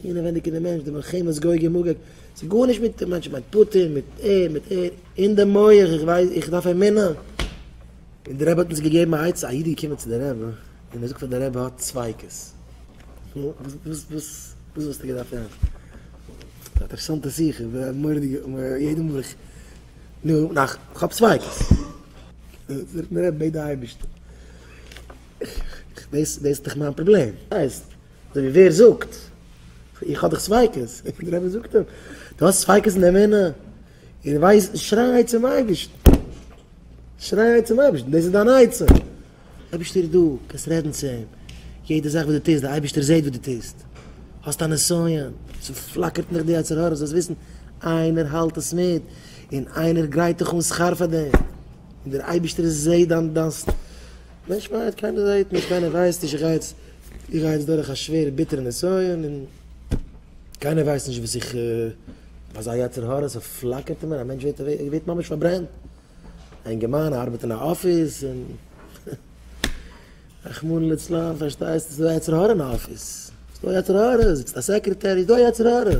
אינעווענדיג אין די מענטש, די מלחמות גוג און מגוג, ס'איז גארנישט מיט די מענטשן, מיט פוטין, מיט ער, מיט ער, אין די מח, איך ווייס, איך דארף אמונה. און די רבי האט אונז געגעבן א עצה, א איד איז געקומען צו די רבי, און ער זאגט פאר די רבי ער האט ספיקות. נו, וואס, וואס, וואס וואלסטו געדארפט טון? א אינטערעסאנטע שיחה, א מורא'דיגע, יעדע מאל איך, נו, נאך, כ'האב ספיקות. זאגט מיר די רבי, בעט די אייבערשטן, איך, איך, דאס, דאס איז דאך מיין פראבלעם. אזוי ווי ווער זאגט, איך האב דאך ספיקות, דער רבי זאגט אים, דו האסט ספיקות אין די אמונה? און ווייס, שריי צום אייבערשטן, שריי צום אייבערשטן, דאס איז דיין עצה, אייבערשטער איז דא, קענסט רעדן צו אים, יעדע זאך וואס דו טוסט, דער אייבערשטער זעט וואס דו טוסט, האסט א נסיון, ס'פלאקערט נאך די יצר הרע, זאלסט וויסן, איינער האלט עס מיט, און איינער גרייט דיך אן שכר פאר דעם, און דער אייבערשטער זעט דיין, דיין, מענטש ווייט, קיינער זעט נישט, קיינער ווייסט נישט, איך גיי יעצט איך גיי יעצט דורך א שווערע ביטערע נסיון און קיינער ווייסט נישט וואס איך אזא יצר הרע ס'פלאקערט אין מיר א מענטש ווערט ממש פארברענט א אינגערמאן ארבעט אין א אפיס און רחמנא לצלן פארשטייסט ס'איז דא יצר הרע אין אפיס ס'איז דא יצר הרע זיצט א סעקרעטער איז דא יצר הרע.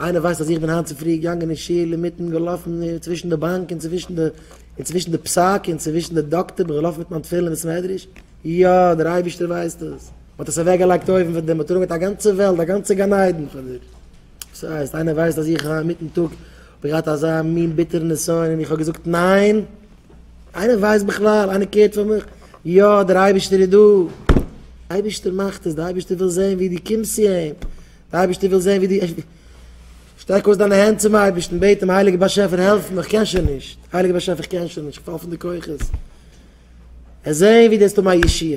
איינער ווייסט אז איך בין היינט צופרי געגאנגען אין שול אינמיטן געלאפן צווישן די באנק און צווישן די און צווישן די פסק און צווישן די דאקטער בין געלאפן מיט מיין תפילין אין בית מדרש? יא, דער אייבערשטער ווייסט עס, מען האט עס אוועקגעלייגט אויבן פאר דיר, מען האט אראפגעלייגט א גאנצע וועלט, א גאנצע גן עדן פאר דיר. וואס הייסט, איינער ווייסט אז איך היינט מיטן טאג האב געהאט אזא מין ביטערן נסיון און איך האב געזאגט ניין? איינער ווייסט בכלל? איינער קעירט פאר מיך? יא, דער אייבערשטער איז דא, דער אייבערשטער מאכט עס, דער אייבערשטער וויל זען ווי דו קומסט צו אים, דער אייבערשטער וויל זען ווי דו שטרעק אויס דיינע הענט צום אייבערשטן, בעט אים, הייליגער באשעפער העלף מיר, איך קען שוין נישט, הייליגער באשעפער איך קען שוין נישט, איך פאל פון די כוחות, ער זען ווי דו האסט האבן א ישועה.